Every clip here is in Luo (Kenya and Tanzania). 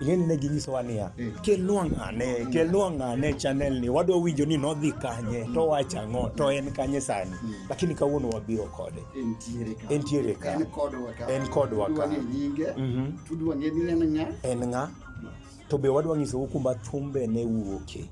Yeni ne ginyisowa niya, eh. kelnwa ng'ane, kelnwa ng'ane channel ni, wadwa winjo ni nodhi kanye, to wacha ang'o, to en kanye sani. Hmm. Lakini kawuono wabiro kode. Entiere ka. En kodwa ka. En kodwa ka. Mhm. Tudwa ng'e ni en ng'a. En ng'a. To be wadwa nyisou kuma thumbe ne wuoke.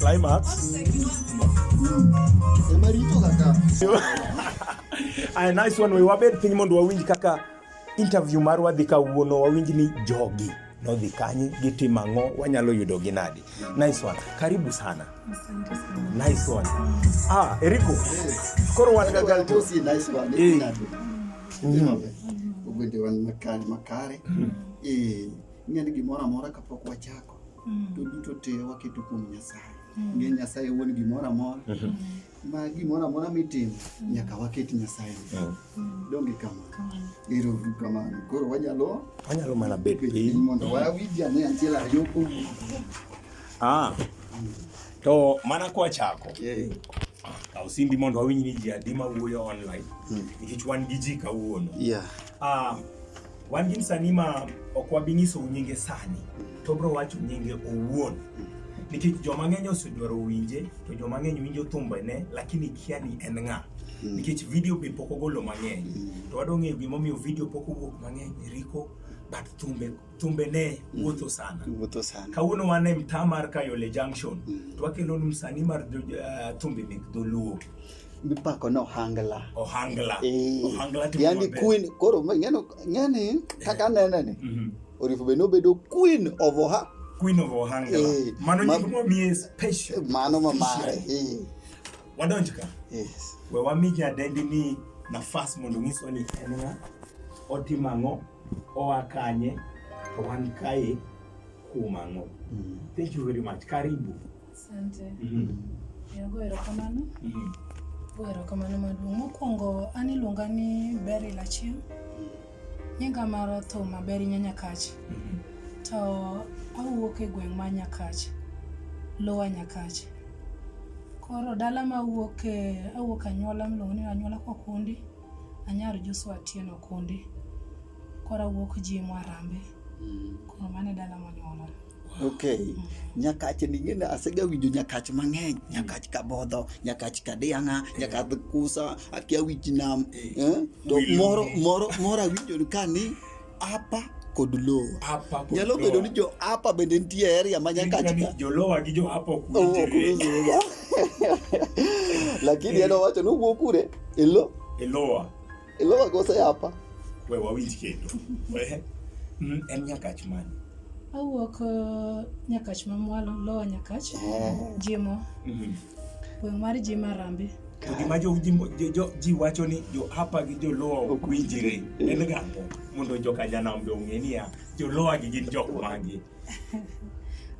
Climax. Aya, nice one. We wabed piny mondo wawinj kaka interview mar wadhi kawuono, wawinj ni jogi nodhi kanye, gitimo ang'o, wanyalo yudo gi nadi. Nice one. Karibu sana. Nice one. Ah, Eriko. Koro wan ga gal to. Nice one. Eh. Mm. Ogwende wan makare makare. Mm. Eh, ing'eni gimoro amora kapok wachako Mm. to duto te waketo kuom Nyasaye. Mm. Ng'e Nyasaye wuon gimoro amora Mhm. ma gimoro amora mitimo nyaka waket Nyasaye. Mm. Mm. Donge kamano. Kamano. Ero uru kamano. Koro wanyalo Wanyalo mana bet bet piny piny. mondo wawinj ane achiel ariyo kuom Ah. To mana kwachako, Eh, kaw simbi mondo wawinj ni ji adi ma wuoyo online. Nikech wan gi ji kawuono. yeah. Ah, Wan gi msanii ma ok wabi nyiso nyinge sani, to bro wacho nyinge owuon. Nikech joma ng'eny osedwaro winje, to joma ng'eny winjo thumbene, lakini kia ni en ng'a. Nikech video be pok ogolo mang'eny. To wadwa ng'eyo gimomiyo video pok owuok mang'eny, Rico, but thumbe, thumbene wuotho sana. Wuotho sana. Kawuono wan e mtaa mar Kayole Junction, to wakelonu msanii mar jo- eh, thumbe mek dholuo. mipako no hangla ohangla eh, ohangla timo yani maber. queen koro ma- ing'eno ng'eni kaka anene ni Mhm. orifu be nobedo queen of oha queen of ohangla Eh, mano ma- nying mwamiye special mano mamare eh, wadonj ka yes. we wami jadendi ni nafas mondo onyiswa ni en ng'a otimo ang'o oa kanye to wan kae kuom ang'o Mm. thank you very much karibu Asante. Mm -hmm. Yago erokamano. Mm -hmm. Go erokamano maduong'. Mokwongo an iluonga ni Beryl Achieng'. Nyinga mar thum maber inya Nyakach. Mm -hmm. To awuok e gweng' ma Nyakach. Lowa Nyakach. Koro dala ma awuok e awuok anyuola miluongo ni anyuola Kokundi. Anyar Joshua Atieno Okundi. Koro awuok Jimo Arambe. Mm -hmm. Koro mano e dala monyuola. Okay. Mm. Nyakach ni ng'e asega winjo nyakach mang'eny, mm. nyakach kabodho, nyakach kadianga, eh. nyakach kusa, akia wich nam. Eh. Eh? To moro moro moro awinjo ka ni apa kod lowa. Apa kod Nyalo bedo ni jo apa bende nitie area ma nyakach ka. Jo lowa gi jo apa ok winjre. Lakini en owacho ni wuok kure? Elo. Eloa. Elo makosa yapa. We wawinj kendo. We mm, en nyakach mani. Awuok uh, nyakach mamwalo lowa nyakach. Eh. Jimo. Mhm. Gweng' mar Jima Rambe. To gima jo ji mo- jo- jo- ji wacho ni jo hapa gi joluo ok winjre en gang'o mondo joka janam be ong'e niya joluo gi gin jok magi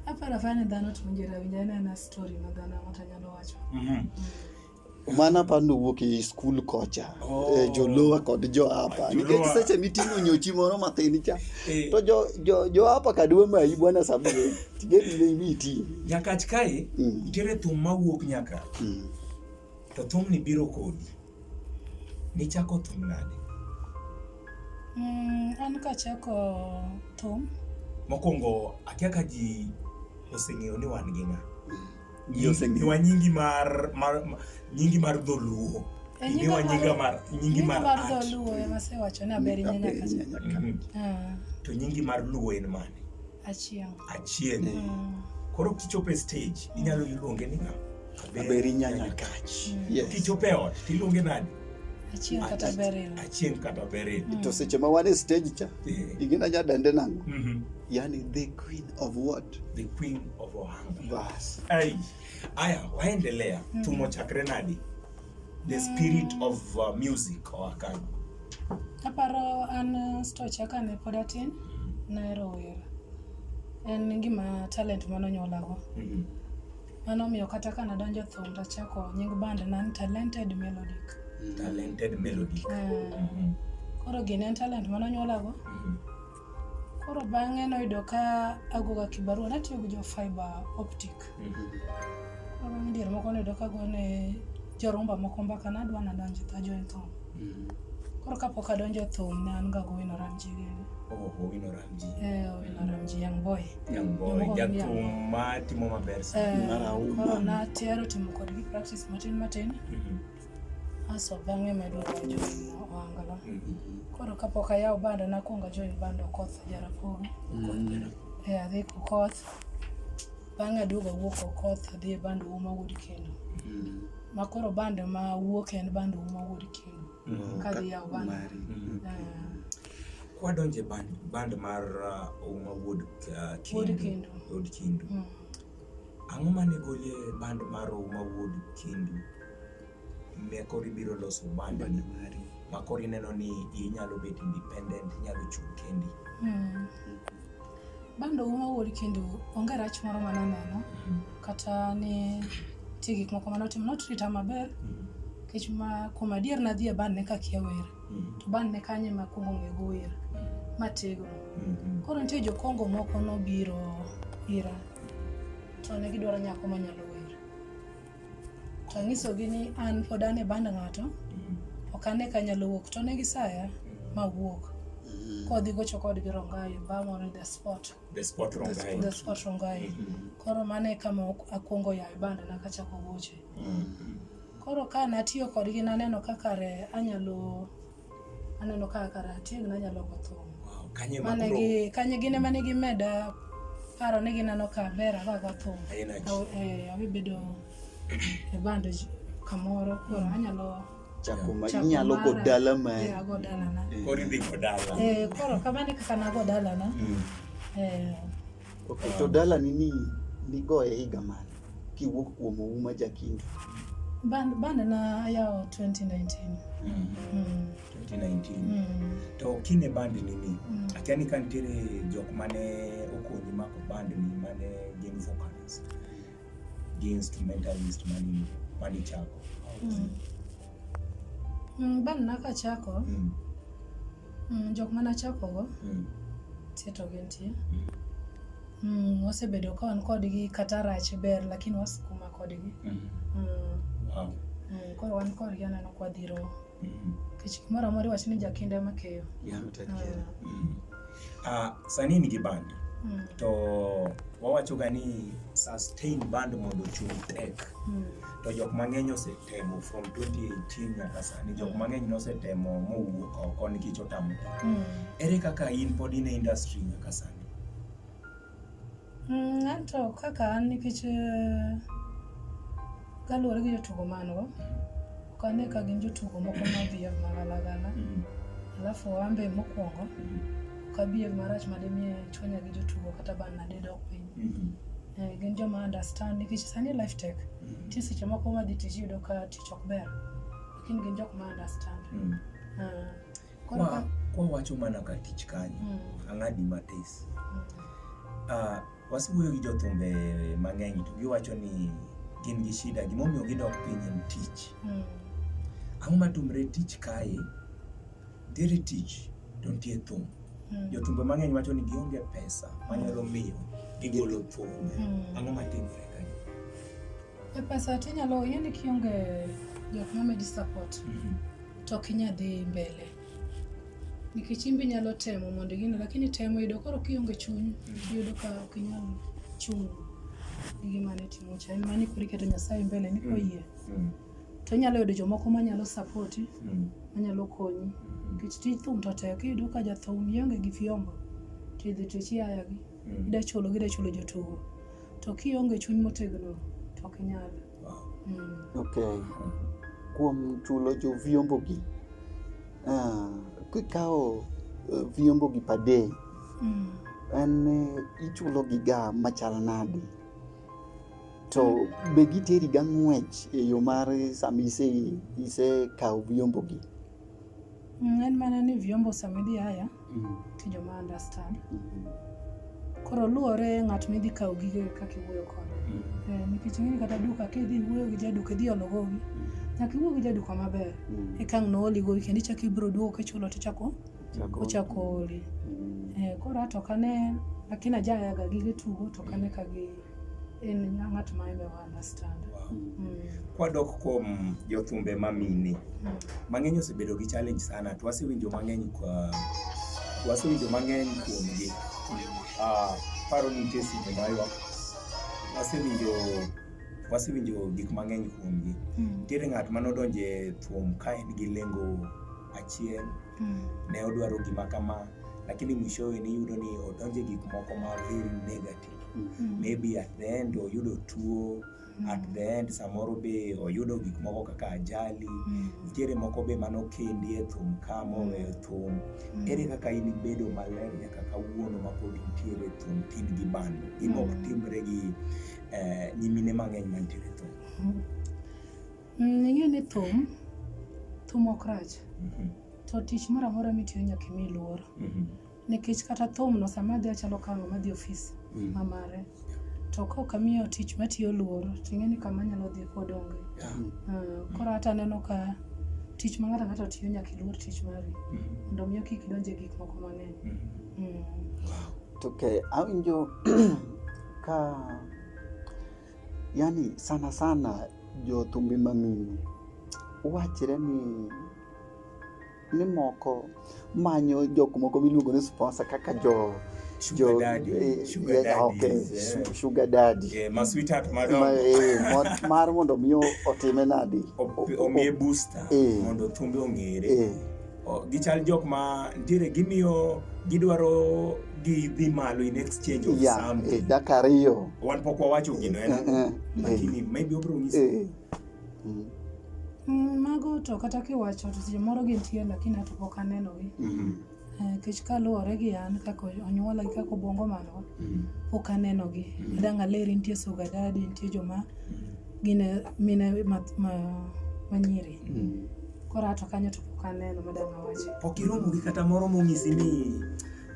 Aparo afara ni dhano to winjore awinja en ena story ma dhano ang'ata nyalo wacho. Mhm. Mano apani owuok e skul kocha oh. e, jolowa kod joapa nikech seche miting'o nyochi moro mathin cha eh. to joapa kadwa mayi bwana samue tigedimiti nyakach kae mm. nitiere thum mawuok nyaka mm. to thumni biro kodi nichako thum nade mm, an kachako thum mokwongo akia ka ji oseng'eyo ni wan gi ng'a Ji oseng'eyo. Iniwa nyingi mar, mar, mar nyingi mar dholuo. E, nyinga Iniwa nyinga mar- mar nyingi nyinga mar mar art. dholuo ema sewacho ni aberi Aberi nyanya kacha nyanya kacha. Mhm. Ah, To nyingi mar luo en mane? achieng' Achieng'. Mm. Koro kichopo e stage inyalo iluonge ni ng'a? Aberi nyanya kach. Yes. Kichopo e ot tiluonge nani? achieng' kata Ach- beril Achieng' kata Beryl. Mm. To seche ma wan e stage cha, Eh. ingina nya dende nang'o? Mhm. Yani the queen of what? The queen of Ohio. Bas. Ai. Aya, waendelea. Mm. Tumo cha Grenadi. The mm. spirit mm. of uh, music or Akan. Aparo an uh, sto cha kane pod atin nahero wer. En gima talent mano nyolago. Mm -hmm. Mano miyo kata kana donjo thum to chako nying band nan talented melodic. Mm. Talented melodic. Uh, mm -hmm. Koro gin en talent mano nyolago. Mm -hmm. Koro bang'e noyudo ka agoga kibarua natiyo gi jo fiber optic. Mhm. Koro bang' dier moko noyudo ka agone jorumba moko mbaka nadwa nadonjo to ajoin thum. Mhm. Koro kapok adonjo thum ne an ga gowino Ramji gini. Oh, Owino Ramji. Eh, Owino Ramji young boy. Young boy, Jomoko gi young jathum boy. ma timo maber sana. Eh, Marahuma. koro natero timo kodgi practice matin matin Mhm. Aso bang'e medo wajo wangala. Koro kapok ayawo bando nakwongo ajoin bando koth Jaramogi. E adhi koth. Bang'e aduogo awuok koth adhi e bando uma wuod kendo. Ma koro bando ma wuok en bando uma wuod kendo. Kadhi yawo bando. Kwadonje band, band mar uh, uma wuod uh, Wuod kindu. Kindu. Wuod kindu. Ang'o mane golie band maro ma wuod kindu ne koro ibiro loso band ni ma koro ineno ni inyalo bet independent inyalo chung' kendi Hmm. Bando uma wuod kendo onge rach moro ma naneno kata ni nitie gik moko ma notimo notreata maber nikech ma kuom adier nadhi e band ne kakia wer to bang' ne kanyo ema akwongo ng'e gower matego. Mm-hmm. Koro nitie jokongo moko nobiro ira to ne gidwaro nyako manyalo wer. To anyisogi ni an pod an e band ng'ato, mm-hmm. ok ane ka anyalo wuok to ne gisaya mawuok. Mm-hmm. Kodhi gocho kodgi Rongayo, Bamore, The Spot. The Spot Rongayo. The Spot Rongayo. Koro mano e kama akwongo yawe band na kachako goche. Koro ka natiyo kodgi naneno kaka re anyalo aneno kaka kara atieg nanyalo go thum. Wow, kanye ma Mane kuro gi kanye gine mane gimeda paro ni gineno ka ber aga go thum. Aena ji. Aw- eh, Abibedo e band j- kamoro koro anyalo Chako ma chako inyalo go mara. dala Eh, mari. ago dalana. koro idhi go dala. Eh, koro kamano e kaka nago dalana. Mm. Eh, Okay, to dalani ni nigoye higa mane kiwuok kuom Ouma Jakindu? Band, band na yao 2019. Mm. Mm. 2019. Mm. To kine band nini? Mm. Akia ni kantiere jok mane okonyi mako band ni mane gin vocalist. against mentalist mani mani chako mm. Mm, ban naka chako mm. Mm, jok mana chako go mm. tieto gi nitie mm. mm, wasebedo ka wan kodgi kata rach ber lakini wasikuma kodgi mm. Mm. Wow. Mm, koro wan kodgi aneno kwadhiro Nikech moro amoro iwacho ni jakinda ema keyo. Ah, sani in gi band Mm. to wawachoga ni sustain band mondo ochung' tek Mm. to jok mang'eny osetemo from 2018 nyaka sani jok mang'eny nosetemo mowuok oko nikech otamo Mm. ere kaka in pod in e industry nyaka sani Mm, anto kaka an nikech eh, kaluwore gi jotugo man go ok ane ka gin jotugo moko mabiev magalagala mm. alafu ambe mokwongo mm. ok abiev marach madimiye chwanya gi jotugo kata ban nadidok piny mm-hmm. eh, gin joma understand nikech sani life tech mm-hmm. ti seche moko madhi tich yudo ka tich ok ber lakini gin jok ma understand ah. Koro ka kwa wacho mana ka tich kanyo, mm. ang'adi matis. Mm. Uh, wasiwuoyo gi jothumbe mang'eny to giwacho ni gin gi shida gimomiyo gidok piny en tich mm. ang'o matumre tich kae ntiere tich to ntie thum mm. jothumbe mang'eny wacho ni gionge pesa manyalo hmm. miyo gigolo thum mm. ang'o matimre kae e pesa tinyalo yeni kionge jok mamedi support mm -hmm. to ok inyal dhi mbele nikech in be inyalo temo mondo igine lakini temo yudo koro kionge chuny yudo ka ok inyal chung' gi gima ne timo cha en mani koro iketo nyasaye mbele ni koyie Mm. to inyalo yudo jomoko manyalo sapoti Mm. manyalo konyi nikech tij thum to tek iyudo ka jathum ionge gi fyombo to idhi to ichiaya gi Mm. ida chulo gi ida chulo jotugo to kionge chuny motegno to ok inyal Mm. Ok. Kuom chulo jo vyombo gi. Ah, kikawo eh, vyombo gi per day. Mm. En eh, ichulo gi ga machal nadi? To be giteri ga ng'wech e yo mar sama ise ise kawo vyombo gi? Mm, en mana ni vyombo sama idhi haya mm. to joma understand mm-hmm. koro luwore ng'at midhi kawo gige kaka iwuoyo kode mm. eh, nikech ing'eni kata duka kidhi iwuoyo gi jaduka idhi olo gowi nyaka iwuo gi jaduka maber ekang' nooli gowi kendo ichako ibiro duogo kichulo tichako ochako oli eh, koro ato kane lakini ajayaga gige tugo to kane ka gi en ng'at ma eme wa understand. Wow. Mm. Kwadok kuom jothumbe ma mine, mm. mang'eny osebedo gi challenge sana to wasewinjo mang'eny kwa wasewinjo mang'eny kuomgi. Ah, paro ni nitie seche ma ywak wasewinjo wasewinjo gik mang'eny kuomgi. Mm. Nitiere ng'at ma nodonjo e thum ka en gi lengo achiel, mm. ne odwaro gima kama, lakini mwishowe niyudo ni odonjo e gik moko ma very negative. Mm. maybe at the end oyudo tuo mm. at the end samoro be oyudo gik moko kaka ajali mm. nitiere moko be mano kendi e thum ka moweyo mm. thum mm. ere kaka in ibedo maler nyaka kawuono mapod intiere thum tin gi bando gima ok mm. timre gi eh, nyimine mang'eny mantiere thum ing'e ni thum thum ok rach mm-hmm. to tich moro amora mitiyo nyaka imi luor mm-hmm. Nikech kata thumno sama adhi achalo ka ng'ama dhi ofis mm. ma mare. To ka ok amiyo tich matiyo luor, to ing'e ni kama anyalo dhi pod onge. Yeah. Uh, koro hata aneno ka tich ma ng'ato ang'ato tiyo nyaka iluor tich mari mm. mondo miyo kik idonje gik moko mang'eny. Mm. Mm. To ke awinjo ka yani sana sana jothumbe mamine wachre ni ni moko manyo jok moko miluongo ni sponsor kaka jo sugar daddy eh, sugar eh, daddy okay yeah. sugar daddy yeah, ma sweetheart madam ma, eh, mar mondo mi otime nadi omiye booster eh. mondo thumbe ongere eh. gichal jok ma ntiere gimiyo gidwaro gi dhi malo in exchange of yeah, something eh, dakariyo wan pok wawacho gino en eh, eh, eh, lakini eh, maybe obro ng'isi eh, Mm. Mm, mago to kata kiwacho to seche moro gintie lakini ato pok anenogi mm-hmm. eh, nikech kaluwore gi an kaka onyuola gi kaka obongo mano mm-hmm. pok anenogi mm-hmm. adang' aleri nitie sugadadi nitie joma gine mine manyiri koro ato kanyo to pok aneno madang' awache pok iromo gi kata moro monyisi ni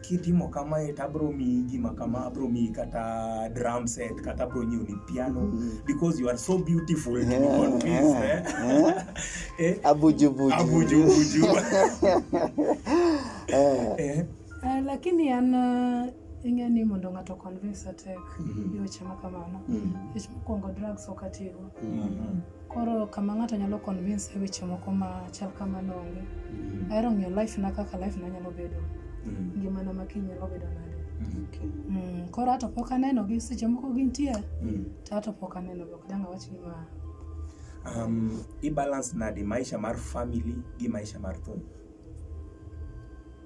kitimo kamae to abro miyi gima kama abro miyi kata drum set kata abro nyiewo ni piano mm -hmm. because you are so beautiful yeah, to be convinced yeah, eh? yeah. eh? abujubuju abujubuju eh. eh. Uh, lakini ana uh, ing'e ni mondo ng'ato convince atek mm -hmm. gi weche ma kamano mm -hmm. mokwongo drugs ok atigo mm -hmm. Koro kama ng'ato nyalo convince e weche moko ma chal kamano onge. Mm. Ahero ng'iyo life na kaka life na nyalo bedo. Mm. Ngimana ma kiny nyalo bedo nade. Okay. Mm. Koro ato pok aneno gi seche moko gintie. Mm. To ato pok aneno ok dang' awach ni ma. Um, i balance nade maisha mar family gi maisha mar thum?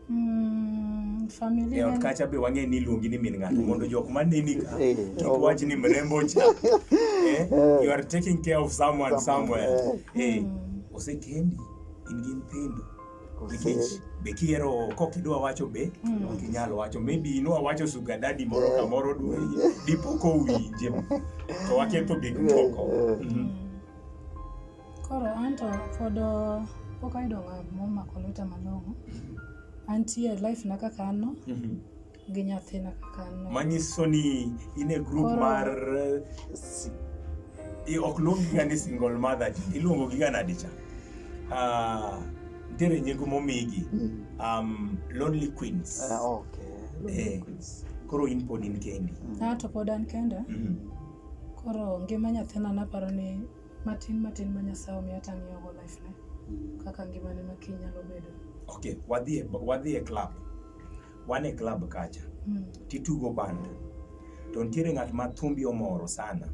Mm, familia e ot gani? kacha be wang'e ni iluongi ni min ng'ato mondo jok maneni ka Eh, kik oh. wach ni mrembo cha eh, you are taking care of someone somewhere eh, osekendi in gi nyithindo nikech be kiero kok idwa wacho be ok inyal wacho maybe inwa wacho sugar daddy moro kamoro dwe dipo kowinje to waketho gik moko Mhm. Koro anto pod pok ayudo ng'at momako lweta malong'o. Antie life na kaka an no Mhm. gi nyathina kaka an no. manyiso ni in e group Koro- mar eh, si- i- ok luongiga ni single mother iluongogiga nadi cha Ah, ntiere nyego momigi Mm. um, lonely queens Ah, okay. Eh. koro in pod in kendi Ah, to pod an kenda. Mhm. Koro ngima nyathina naparo ni matin matin ma Nyasaye omiyo tang'iyogo life ne mm. kaka ngimane ma kiny nyalo bedo. Ok, wadhi e, wadhi e club. Wan e club kacha. Mm. Titugo band. To nitiere ng'at ma thumbi omoro sana.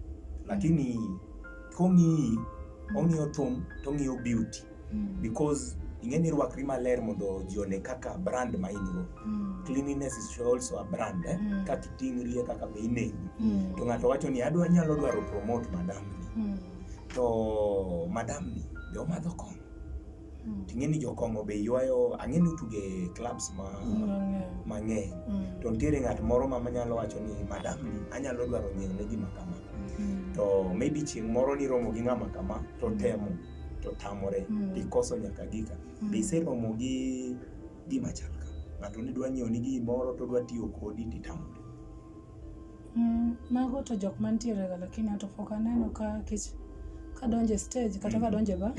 Lakini mm. kong'iyi, ong'iyo thum to ong'iyo beauty. Mm. because ing'e ni rwakri maler mondo ji one kaka brand ma in go Mm. cleanliness is also a brand eh? Mm. kaka iting'ri e kaka be ineni Mm. to ng'ato wacho ni adwa nyalo dwaro promote madam ni Mm. to madam ni be omadho kong'o Mm. ting'e ni jokong'o be ywayo ang'e ni utuge clubs ma Mang'eny. mang'eny Mm. to nitiere ng'at moro ma manyalo wacho ni madam ni anyalo dwaro nyiewo ne gima kama Mm. to maybe chieng' moro niromo gi ng'ama kama to temo to tamore mm. ikoso nyaka gika mm. be iseromo gi gima chal ka ng'ato ni dwa nyiewo ni gimoro to dwa tiyo kodi to itamore mm, mago to jok mantiere ga lakini ato pok aneno ka kech kadonje stage kata mm. kadonje ba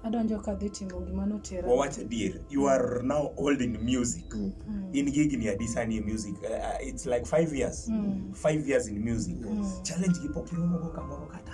adonjo ka dhi timo gima notera wawach adier you are now old in music mm. mm. in gigni adi sani e music uh, uh, it's like five years mm. five years in music mm. challenge gi pok iromogo kamoro kata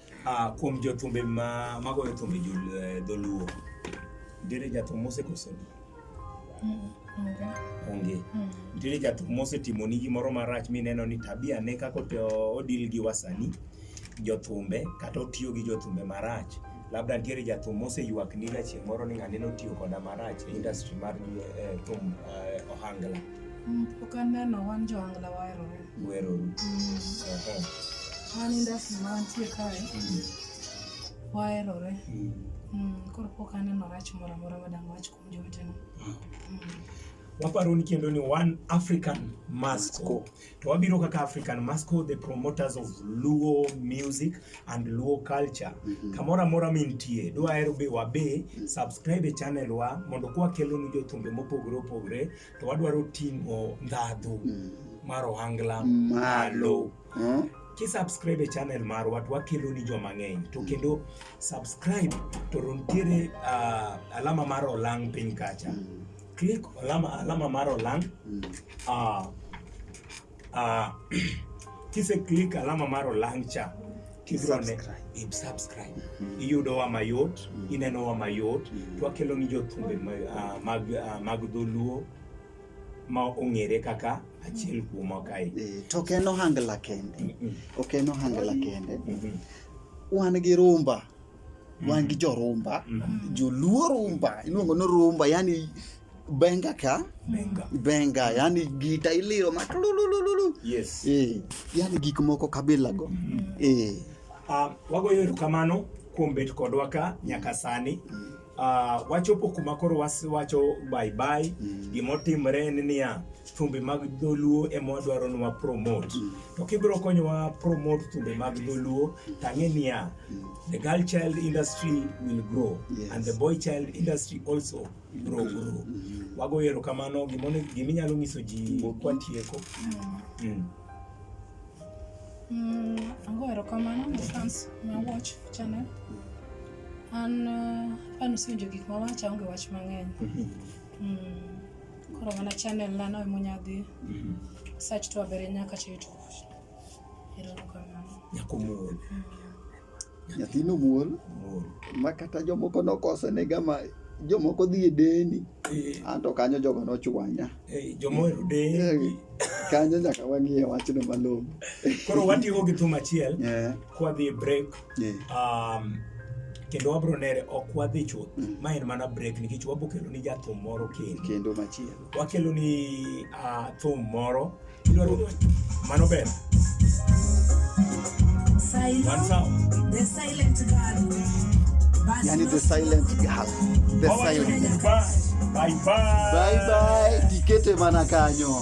Ah, kuom jothumbe ma magoyo thumbe jol- eh, dholuo nitiere jathum mosekoso onge nitiere jathum mosetimoni gimoro marach mineno ni tabia ne kaka ote- odil gi wasani jothumbe kata otiyo gi jothumbe marach labda nitiere jathum moseywak ni gachieng' moro ni ng'ane notiyo koda marach e industry mar eh, thum eh, ohangla Mm, Pok aneno wan jo angla waherore. weroru. Ehe. Mani ndasi mantie kae Mm. waherore Mm. Mm, koro pok aneno rach moro amora madang' wach kuom jowetena Mm. waparo ni kendo ni one african masco Masco. to wabiro kaka african masco the promoters of luo music and luo culture Mhm. kamoro amora mintie dwahero be wabe subscribe e channel wa mondo kwakelonu jothumbe mopogore opogore to wadwaro ting'o ndhadhu mm. mar ohangla malo huh? kisubscribe e channel marwa to wakelo ni joma ng'eny to kendo subscribe to nitiere uh, alama mar olang piny kacha mm. click alama, alama mar olang mm. uh, Uh, kise click alama mar olang cha tibrone subscribe mm-hmm. iyudowa mayot mm-hmm. inenowa mayot mm-hmm. twakelo ni jothumbe ah, mag ah, mag dholuo ma ong'ere kaka achiel kuoma kae eh, to ok en ohangla kende ok en ohangla kende wan gi rumba mm. wan gi jorumba mm. joluo rumba iluongo ni rumba yani benga ka benga, benga yani gita iliro ma tululululu yes eh yani gik moko kabila go mm. eh uh, wagoyo erokamano kuom bet kodwa ka nyaka sani mm. Uh, wachopo kuma koro wacho bye bye mm. gima otimre en niya thumbe mag dholuo ema wadwaro ni wapromote mm. to kibiro konyowa promote thumbe mag dholuo tang'e niya mm. the girl child industry will grow yes. and the boy child industry also mm. grow grow mm. wago erokamano giminyalo nyiso ji kwatieko mm. mm. mm. ago erokamano ne fans ma watch channel mm. An uh, an osewinjo gik ma wacha onge wach mang'eny. Mhm. Mm. Koro mana channel na no emonya dhi. Mhm. Search to abere nyaka to YouTube. Ero kamano. Nyako muol. Mm. Nyathino muol. Muol. Ma kata jomoko nokose ne gama jomoko dhi e deni. Eh. Anto kanyo jogo nochwanya. Eh, jomo ero deni. Eh, kanyo nyaka wang'iye wachno malong'o. Koro watigo gi thum achiel. Yeah. Kwa dhi e break. um, kendo wabro nere ok wadhi chuth mm. ma en mana break nikech wabro kelo ni jathum moro kendo kendo machielo wakelo ni uh, thum moro mano ber One sound. The silent girl. Yani the silent girl. The silent. Bye bye. Bye bye. Tikete mana kanyo.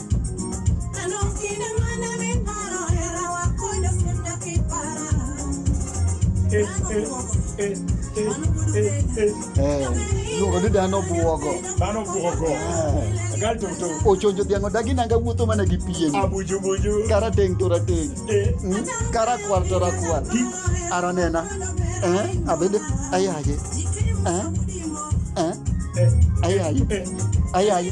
dhano buogo dhano buogo agal to to ochonjo dhiang' odagi nanga wuotho mana gi pien abuju buju karateng' to rateng' karakwar to rakwar ara nena abende ayaye ayaye ayaye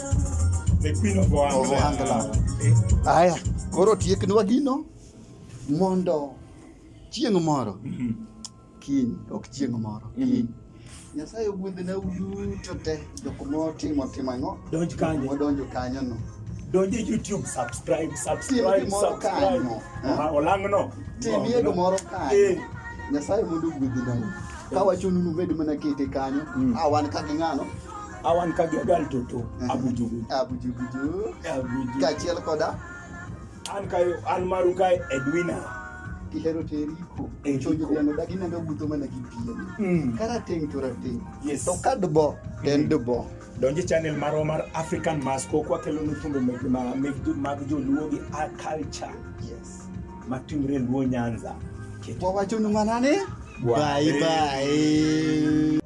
Aya, koro tieknwa gino mondo chieng' moro mhm. kiny ok chieng' moro mhm. kiny Nyasaye ogwedhna uduto te jok motimo timo ang'o donj kanyo wadonjo kanyo no donje YouTube subscribe subscribe subscribe olang'no timie gimoro kanyo eh. Nyasaye mondo ogwedhna ka wachonu nubed mana kete kanyo mm. a ah, wan ka gi ng'ano awan ka giagal toto mhm. abujugu abujuguju abujugu kachiel koda an kayo an maru kae edwina ihero teriko chojo yano dagi nendo buto mana gi piem mm. kara ting to rating yes to kad bo ten mm. do bo donje channel maro mar african mask ko kwa kelo nutumbe meg ma meg du mag jo luo gi a culture yes matimre luo nyanza kwa wacho numanane bye bye, bye.